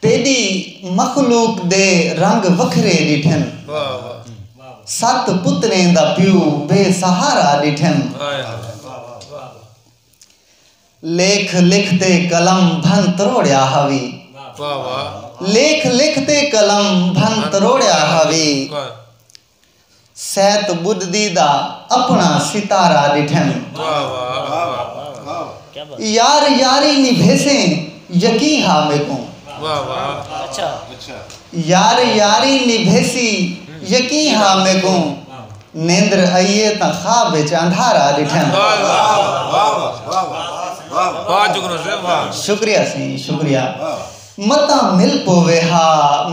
تیݙی مخلوق دے رنگ وکھرے ݙٹھن ست پتریں دا پیو بے سہارا ݙٹھن لیکھ لکھ تے قلم بھن تروڑیا ہاوی لیکھ لکھ تے قلم بھن تروڑیا ہاوی سیت بدھدی دا اپنڑاں ستارہ ڈٹھن۔ یار یاری نبھیسیں یقیں ہا میکوں۔ یار یاری نبھیسی یقیں ہا میکوں۔ نیندر ائیے تاں خواب اچ اندھارہ ڈٹھن۔ شکریہ سئیں شکریہ۔ متاں مل پووے ہا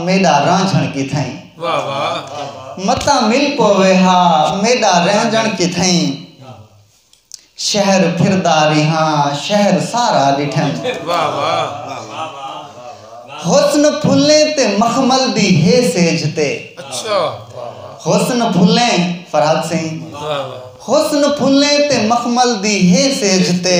میݙا رانجھݨ کتھئیں۔ متاں مل پووے ہا میݙا رانجھݨ کتھئیں۔ شہر پھردا ریہاں شہر سارا ݙٹھئیں۔ حسن پھلیں تے مخمل دی ہے سیجھ تے۔ حسن پھلیں فرحت سئیں۔ حسن پھلیں تے مخمل دی ہے سیجھ تے۔